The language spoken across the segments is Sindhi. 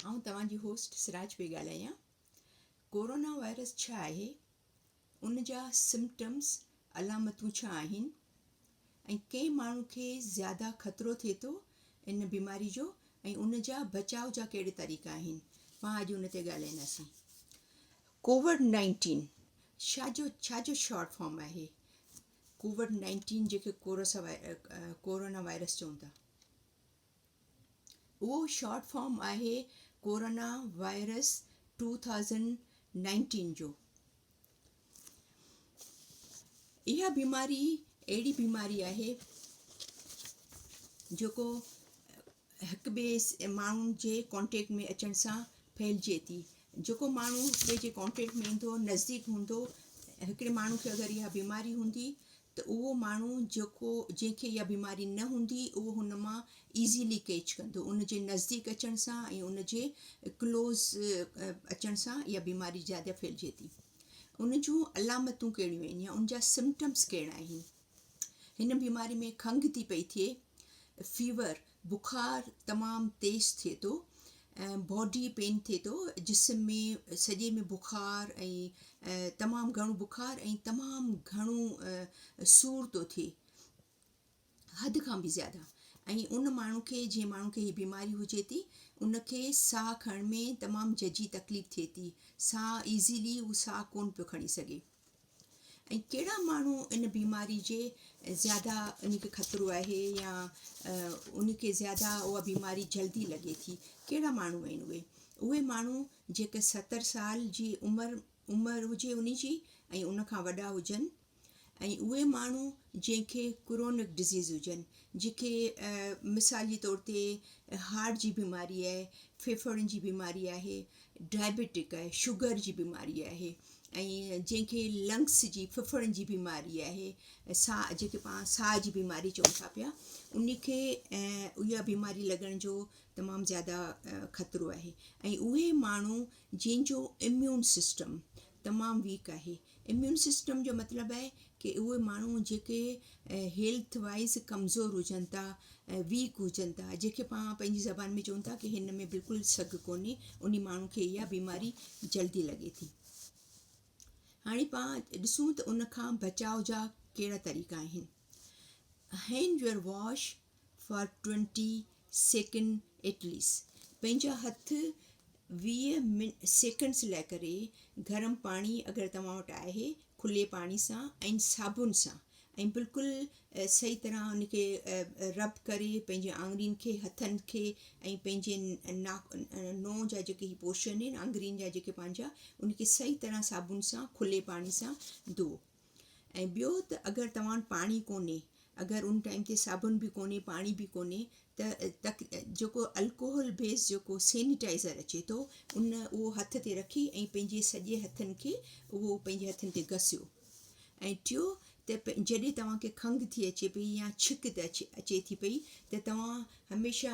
آئون توهان جي هوسٽ سراج پئي ڳالهايان ڪورونا وائرس ڇا آهي ان جا سمٽمس علامتون ڇا آهن ۽ ڪنهن ماڻهو کي زياده خطرو ٿئي ٿو ان بيماري جو ۽ ان جا بچاء جا ڪهڙي طريقا آهن پان اڄ ان تي ڳالهائينداسين ڪووڊ نائنٽين ڇا جو ڇا جو شارٽ فارم آهي ڪووڊ نائنٽين جيڪي ڪورونا وائرس چون ٿا اهو شارٽ فارم آهي corona virus two thousand nineteen جو. اها بيماري اهڙي بيماري آهي جيڪو هڪ ٻئي ماڻهن جي ڪانٽيڪٽ ۾ اچڻ سان ڦهلجي ٿي جيڪو ماڻهو هڪ ٻئي جي ڪانٽيڪٽ ۾ ايندو نزديڪ هوندو هڪڙي ماڻهو کي اگر اها بيماري هوندي ته اهو ماڻهو جيڪو جنهن کي اها بيماري نه هوندي اهو هن مان Easily Catch ڪندو ان جي نزديڪ اچڻ سان ۽ ان جي Close اچڻ سان اها بيماري زياده ڦهلجي ٿي ان جون علامتون ڪهڙيون آهن يا ان جا Symptoms ڪهڙا آهن هن بيماري ۾ کنگهه ٿي پئي ٿئي Fever بخار تمام تيز ٿئي ٿو ۽ باڊي پين ٿئي ٿو جسم ۾ سڄي ۾ بخار ۽ تمام گهڻو بخار ۽ تمام گهڻو سور ٿو ٿئي حد کان به زياده ۽ ان ماڻهو کي جنهن ماڻهو کي هي بيماري هجي ٿي ان کي ساهه کڻڻ ۾ تمام ججي تڪليف ٿئي ٿي ساهه ايزلي هو ساهه ڪون پيو کڻي سگهي ۽ ڪهڙا ماڻهو ان بيماري جي زياده ان کي خطرو آهي يا ان کي زياده اها بيماري جلدي لڳي ٿي ڪهڙا ماڻهو آهن اهي اهي ماڻهو جيڪي ستر سال جي عمر عمر هجي ان جي ۽ ان کان وڏا هجن ۽ اهي ماڻهو جنهن کي ڪرونڪ ڊزيز هجن جنهن کي مثال جي طور تي هارٽ جي بيماري آهي ڦيڦڙن جي بيماري آهي ڊائبيٽڪ شگر جي بيماري آهي ۽ جنهن کي لنگس جي ڦڦڙن جي بيماري آهي ساهه جنهن کي پاڻ ساهه جي بيماري چئون ٿا پيا ان کي اها بيماري لڳڻ جو تمام زياده خطرو آهي ۽ اهي ماڻهو جنهن جو اميون سسٽم تمام ويڪ آهي اميون سسٽم جو مطلب آهي ڪي اهي ماڻهو جيڪي هيلٿ وائيز ڪمزور هجن ٿا ويڪ هجن ٿا جيڪي پاڻ پنهنجي زبان ۾ چون ٿا ڪي هن ۾ بلڪل سگهه ڪونهي انهي ماڻهو کي اها بيماري جلدي لڳي ٿي هاڻي پاڻ ڏسون ته ان کان بچاء جا ڪهڙا طريقا آهن hand your wash for twenty second at least پنهنجا هٿ ويهه من سيڪنڊس لاء ڪري گرم پاڻي اگر توهان وٽ آهي کلي پاڻي سان ۽ صابن سان ۽ بلڪل صحيح طرح ان کي رب ڪري پنهنجي آڱرين کي هٿن کي ۽ پنهنجي ناک نونهن جا جيڪي هي پورشن آهن آڱرين جا جيڪي پنهنجا ان کي صحيح طرح صابن سان کلي پاڻي سان ڌوئو ۽ ٻيو ته اگر توهان وٽ پاڻي ڪونهي اگر ان ٽائيم تي صابن به ڪونهي پاڻي به ڪونهي ته تڪ جيڪو الڪوهل بيس جيڪو سينيٽائزر اچي ٿو ان اهو هٿ تي رکي ۽ پنهنجي سڄي هٿن کي اهو پنهنجي هٿن تي گسيو ۽ ٽيو ته جڏهن توهان کي کنگهه ٿي اچي پئي يا ڇڪ ته اچي ٿي پئي ته توهان هميشه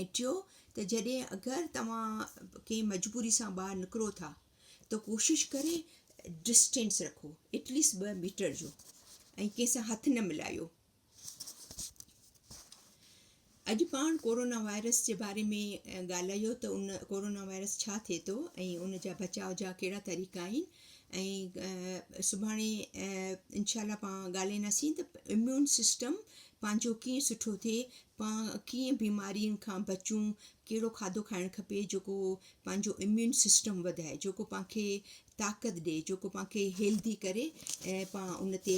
۽ ٽيون ته جڏهن اگر توهان ڪنهن مجبوري سان ٻاهر نڪرو ٿا ته ڪوشش ڪري ڊسٽينس رکو ايٽليسٽ ٻه ميٽر جو ۽ ڪنهن سان هٿ نه ملايو اڄ پاڻ ڪورونا وائرس جي باري ۾ ڳالهايو ته ان ڪورونا وائرس ڇا ٿئي ٿو ۽ ان جا بچاء جا ڪهڙا طريقا آهن ۽ سڀاڻي انشاء الله پاڻ ڳالهائينداسين ته اميون سسٽم پنهنجو ڪيئن سٺو ٿئي پاڻ ڪيئن بيمارين کان بچون، ڪهڙو کاڌو کائڻ کپي جيڪو پنهنجو اميون سسٽم وڌائي، جيڪو پاڻ کي طاقت ڏئي، جيڪو پاڻ کي هيلڌي ڪري ۽ پاڻ ان تي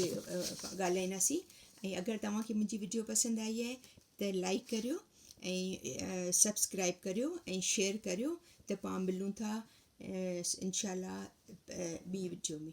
ڳالهائينداسين ۽ اگر توهان کي منهنجي وڊيو پسند آئي آهي ته لائڪ ڪريو ۽ سبسڪرائب ڪريو ۽ شيئر ڪريو ته پاڻ ملون ٿا انشاء الله ٻي وڊيو ۾.